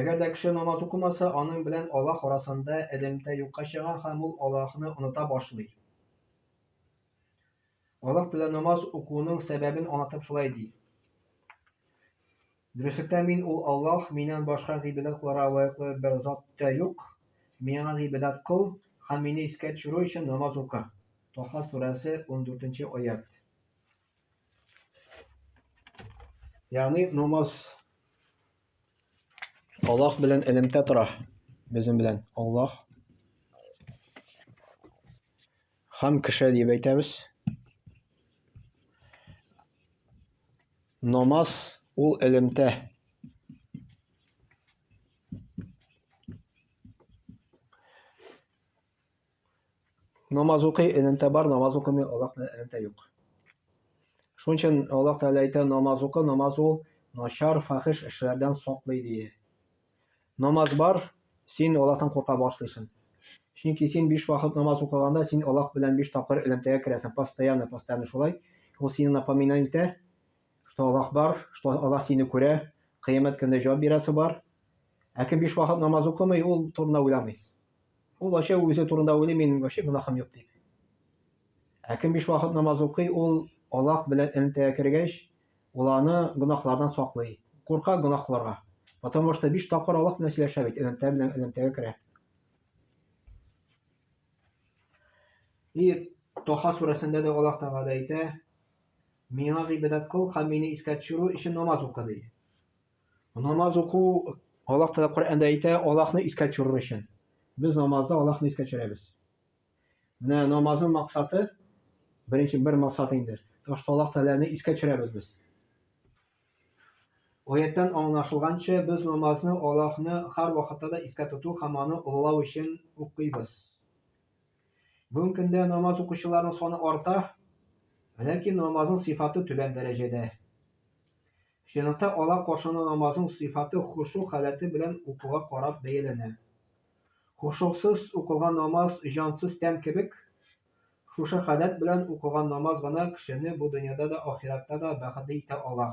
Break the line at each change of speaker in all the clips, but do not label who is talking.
Әгәр дә кеше намаз укымаса, аның белән Аллаһ арасында элемтә юкка чыга һәм ул Аллаһны оныта башлый. Аллаһ Тәгалә намаз укуның сәбәбен аңлатып шулай ди. Дөреслектә мин ул Аллаһ, миннән башка гыйбадәт кылырга лаеклы бер зат та юк. Миңа гыйбадәт кыл һәм мине искә төшерү өчен намаз укы. Таһа сүрәсе, 14 нче аять. Ягъни намаз Аллаһ белән элемтә тора. Безнең белән Аллаһ һәм кеше дип әйтәбез. Намаз ул элемтә. Намаз укый, элемтә бар, намаз укымый, Аллаһ белән элемтә юк. Шуның өчен Аллаһ Тәгалә әйтә, намаз укы, намаз ул начар, фахиш эшләрдән саклый дие. Намаз бар, син Аллаһтан курка башлыйсың. Чөнки син биш вакыт намаз укыганда, син Аллаһ белән биш тапкыр элемтәгә керәсең, постоянно, постоянно шулай. Ул сине напоминать итә, что Аллаһ бар, что Аллаһ сине күрә, кыямәт көндә җавап бирәсе бар. Ә кем биш вакыт намаз укымый, ул турында уйламый. Ул вообще үзе турында уйлый, минем вообще гөнаһым юк дип. Ә кем биш вакыт намаз укый, ул Аллаһ белән элемтәгә кергәч, ул аны гөнаһлардан саклый. Курка гөнаһ кылырга. Потому что биш тапкыр Аллаһ белән сөйләшә бит, элемтә белән элемтәгә керә. И Тоха сүрәсендә дә Аллаһ Тәгалә әйтә, Миңа гыйбадәт кыл һәм мине искә төшерү өчен намаз укы ди. Намаз уку Аллаһ Тәгалә Коръәндә әйтә, Аллаһны искә төшерер өчен. Без намазда Аллаһны искә төшерәбез. Менә намазның максаты беренче бер максат инде. Ташта Аллаһ Тәгаләне искә төшерәбез без. Аяттан аңлашылганча, без намазны Аллаһны һәр вакытта да искә тоту һәм аны олылау өчен укыйбыз. Бүгенге көндә намаз укучыларның саны арта, ләкин намазның сыйфаты түбән дәрәҗәдә. Ширата ала каршына намазның сыйфаты хошу халәте белән укуга карап бәяләнә. Хошусыз укылган намаз җансыз тән кебек, шушы халәт белән укылган намаз гына кешене бу дөньяда да ахиратта да бәхетле итә ала.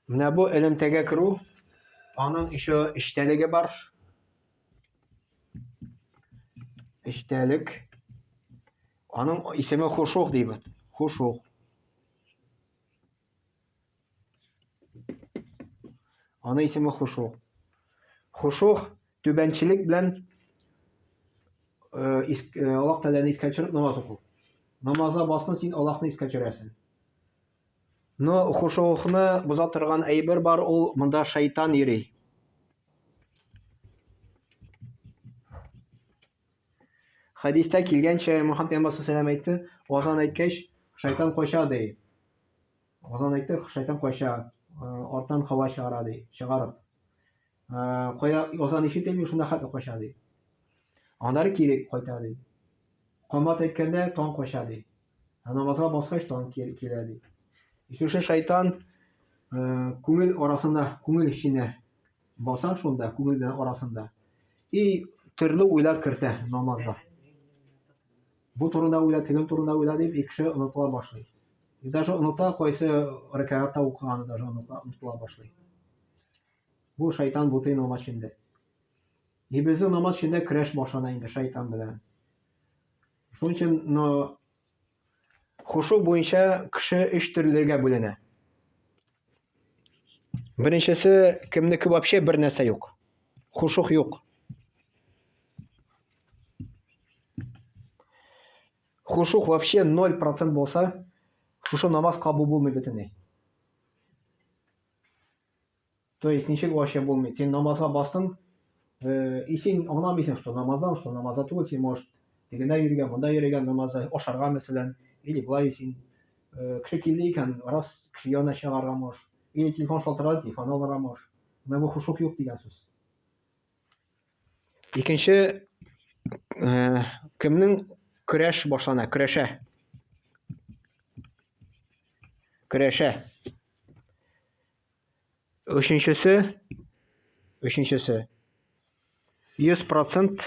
Менә бу элемтәгә керү, аның еще эчтәлеге бар. Эчтәлек. Аның исеме хушух дибез. Хушух. Аның исеме хушух. Хушух түбәнчелек белән э, э, Аллаһ Тәгаләне искә төшереп намаз уку. Намазда басны син Аллаһны искә төшерәсең. Но хушугны боза торган әйбер бар, ул монда шайтан йөри. Хәдистә килгәнчә Мөхәммәд пәйгамбәр саллаллаху әйтте, азан әйткәч, шайтан кача ди. Азан әйтте, шайтан кача, артан хава чыгара ди, чыгарып. Кая азан ишетелми, шунда хәтта кача ди. Аннары кире кайта ди. Камат әйткәндә таң кача ди. Ә намазга баскач тан килә ди. Өченче шайтан күңел арасында, күңел эченә баса шунда, күңел белән арасында. И төрле уйлар кертә намазга. Бу турында уйла, тегел турында уйла дип, ике кеше онытыла башлый. И даже оныта кайсы рәкәгатта укыганы даже онытыла башлый. Бу шайтан бутый намаз эчендә. И безнең намаз эчендә көрәш башлана инде шайтан белән. Шуның өчен, но хушу буенча кеше өч төрлегә бүленә. Беренчесе, кемнеке вообще бер нәрсә юк. Хушух юк. Хушух вообще 0% булса, шушы намаз кабул булмый бөтенләй. То есть ничек вообще булмый? Син намазга бастың, э, и син аңламыйсың, что намаздан, что намазда түгел, син может тегенә йөргән, монда йөргән намазда, ашарга мәсәлән, или былай син э, кеше килде икән, раз кеше янына чыгарга можешь, или телефон шалтырады, телефон алырга можешь. Менә бу хушук юк дигән сүз. Икенче э, кемнең көрәш башлана, көрәшә. Көрәшә. Өченчесе, өченчесе, 100 процент,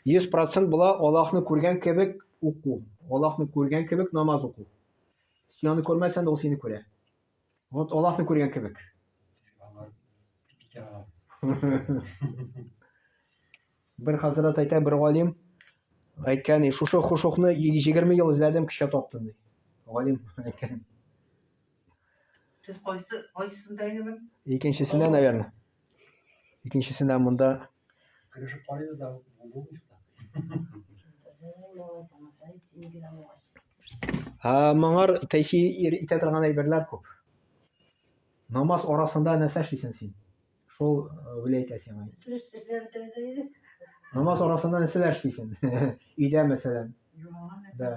100 процент була Аллахны күргән кебек уку. Аллахны күргән кебек намаз уку. Син аны күрмәсән дә ул сине күрә. Вот Аллахны күргән кебек. Бер хәзрәт әйтә, бер галим әйткән, и шушы хушукны 20 ел эзләдем, кичә таптым ди. Галим әйткән.
Сез кайсы кайсында инде бер? Икенчесенә,
наверное. Икенчесенә монда Кырышып
карыйбыз да булмыйча.
Ә моңар тәэсир итә торган әйберләр күп. Намаз арасында нәрсә эшлисең син? Шул виләйтә сиңа. Дөрес эзләндерде иде. Намаз арасында нәрсәләр эшлисең? Өйдә, мәсәлән. Да.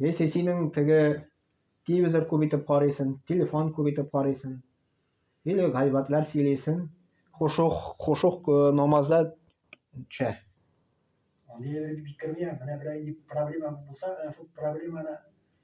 Яисә синең теге телевизор күп итеп карыйсың, телефон күп итеп карыйсың. Или гайбатлар сөйлисең. Хушух, хушух э, намазда төшә.
Аны бик кирмия, менә берәй проблема булса, шул проблеманы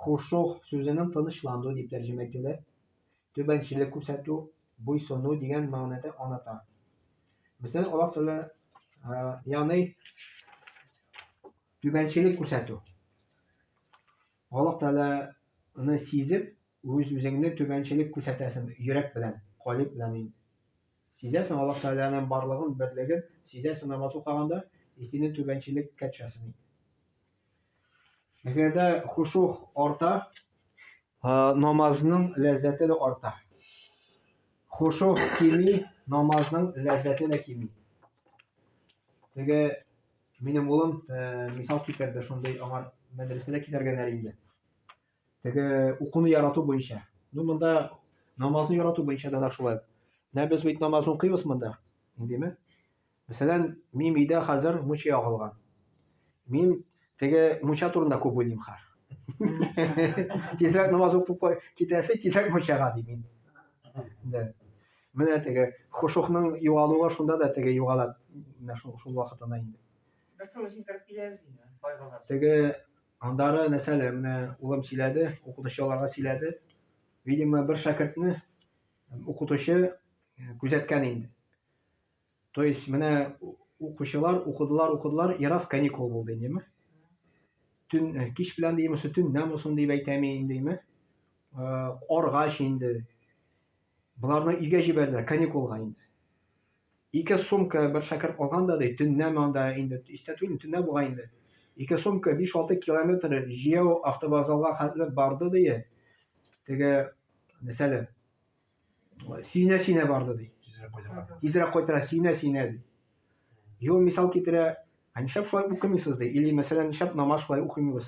Хушугъ сүзенең тынычлану дип тәрҗемә ителер, түбәнчелек күрсәтү, буйсыну дигән мәгънәдә аната. Мөслим аллаһ тәгалә яны түбәнчелек күрсәтү. Аллаһ тәгаләне сизеп, үз үзеңне түбәнчелек күрсәтәсең йөрәк белән, калиб белән инде. Сизәсең Аллаһ тәгаләнең барлыгын, берлеген, сизәсең намаз укыганда, и сине түбәнчелеккә төшәсең. Әгәр дә хушух арта, намазның ләззәте дә арта. Хушух кими, намазның ләззәте дә кими. Теге минем улым мисал китерде, шундый аңар мәдрәсәдә китәргәләр инде. Теге укуны ярату буенча. Ну, монда намазны ярату буенча да шулай. Менә без бит намаз укыйбыз монда. Индеме? Мәсәлән, мин өйдә хәзер муча ягылган. Мин теге муча турында күп уйлыйм хәр. Тизрәк намаз укып китәсе, тизрәк мучага ди мин. Да. Менә теге хушухның югалуы шунда да теге югала. Менә шул вакытына инде. Бәлки үзен тәрбияләр инде, байлыгы. Теге Андагы нәрсәләр менә улым сөйләде, укытучы аларга сөйләде. Видимо, бер шәкертне укытучы э, күзәткән инде. То есть менә укучылар укыдылар, укыдылар, и раз каникул булды инде. Төн э, кич белән димме, төн нәм усын дип әйтәме индеме? Э, Оргач инде. Боларны өйгә җибәрделәр каникулга инде. Ике сумка бер шәкерт алган да, ди, төннәме анда, инде истә түгелмен, төннә бугай инде, ике сумка биш-алты километр җәяү автовокзалга хәтле барды, ди, теге Нәсәле. Сөенә-сөенә барды, ди. Тизрәк кайтырга. Тизрәк кайтырга сөенә-сөенә, ди. И ул мисал китерә, Ә нишләп шулай укымыйсыз, ди, или, мәсәлән, нишләп намаз шулай укымыйбыз?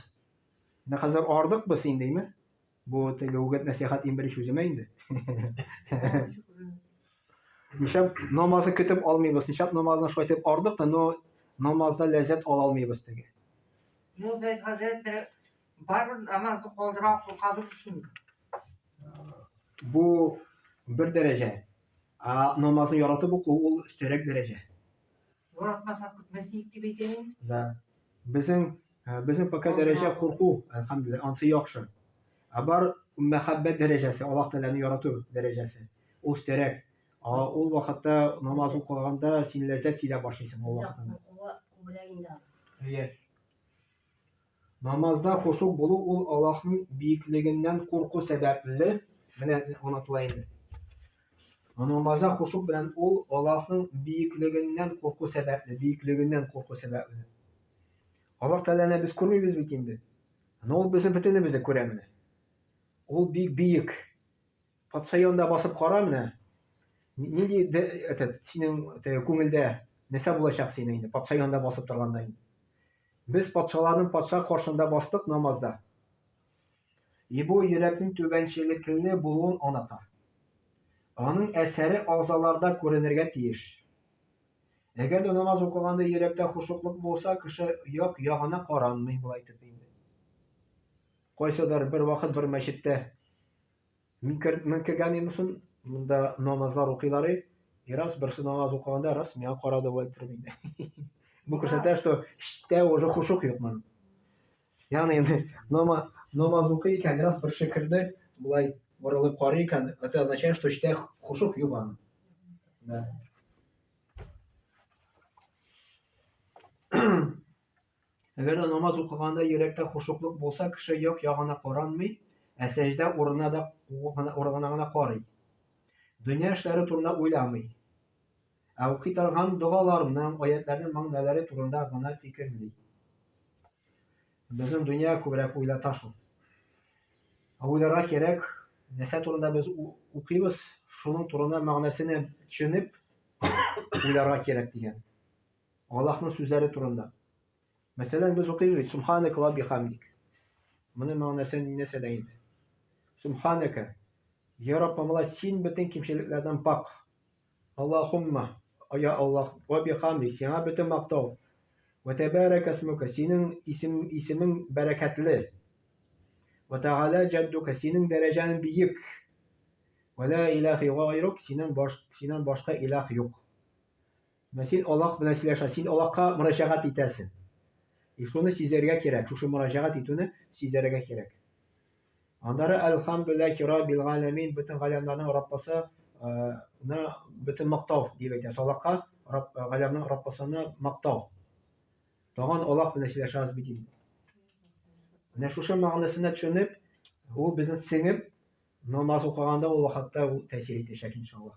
Менә хәзер ардык без син, диме? Бу теге үгет нәсихәт иң беренче үземә инде. Нишләп намазны көтеп алмыйбыз? Нишләп намазны шулай итеп ардык та, но намазда ләззәт ала алмыйбыз теге? Ну, без
хәзер бер бар намазны калдыра куркабыз
өчен. Бу бер дәрәҗә. А намазны яратып уку ул өстәрәк дәрәҗә. Юратмасак
көтмәс идек дип әйтәләр. Да. Безнең э,
безнең пока дәрәҗә курку, әлхәмдулилла, ансы яхшы. Ә бар мәхәббәт дәрәҗәсе, Аллаһ Тәгаләне ярату дәрәҗәсе. Ул өстәрәк. Ул вакытта намаз укыганда син ләззәт сизә башлыйсың ул вакытта. Күбрәк инде. Намазда хушу булу ул Аллаһның биеклегеннән курку сәбәпле, менә онытыла инде. Намазда хушу белән ул Аллаһның биеклегеннән курку сәбәпле, биеклегеннән курку сәбәпле. Аллаһ Тәгаләне без күрмибез бит инде. Но ул безне бөтенебезне күрә менә. Ул бик биек. Патша янында басып кара менә. Нинди этот синең күңелдә нәрсә булачак синең инде патша янында басып торганда инде. Без патшаларның патша каршында бастык намазда. И бу йөрәкнең түбәнчелекле булуын аната. Аның әсәре агъзаларда күренергә тиеш. Әгәр дә намаз укыганда йөрәктә хушуклык булса, кеше як ягына каранмый була итеп инде. Кайсыдыр бер вакыт бер мәчеттә Мин кер, мин кергәнемнән соң монда намазлар укыйлар и, и раз берсе намаз укыганда раз миңа карады бу әйттереп инде. Бу күрсәтә, что эчтә уже хушук юк моның. Ягъни инде намаз намаз укый икән, раз берсе керде, болай борылып карый икән, это означает, что эчтә хушук юк аның. Да. Әгәр дә намаз укыганда йөрәктә хошуклык булса, кеше як-ягына каранмый, ә сәҗдә урынына да урынына гына карый. Дөнья эшләре турында уйламый. Ә укый торган догаларның, аятларның мәгънәләре турында гына фикерли. Безнең дөнья күбрәк уйлата шул. Ә уйларга кирәк, нәрсә турында без укыйбыз, шуның турында мәгънәсенә төшенеп уйларга кирәк дигән. Аллаһның сүзләре турында. Мәсәлән, без укыйбыз бит, Субханәк ва бихамдик. Моның мәгънәсе нәрсә дә инде? Субханәкә. Я Раббым, Аллаһ, син бөтен кимчелекләрдән пак. Аллахумма, я Аллаһ, ва бихамдик, сиңа бөтен мактау. Ва тәбәрәк әсмүкә, синең исем, исемең бәрәкәтле. Ва тәгалә җәддүкә, синең дәрәҗәң биек. Ва ла илаһи гайрук, синең баш, синнән башка илаһ юк. Менә син Аллаһ белән сөйләшә, син Аллаһка мөрәҗәгать итәсең. И шуны сизәргә кирәк, шушы мөрәҗәгать итүне сизәргә кирәк. Аннары Әлхәмдүлилләһи раббил галәмин, бөтен галәмнәрнең Раббысы ны бөтен мактау дип әйтәбез. Аллаһка Рабб галәмнең Раббысыны мактау. Тагын Аллаһ белән сөйләшәбез бит инде. Менә шушы мәгънәсенә төшенеп, ул безне сеңеп, намаз укыганда ул вакытта ул тәэсир итәчәк иншаллаһ.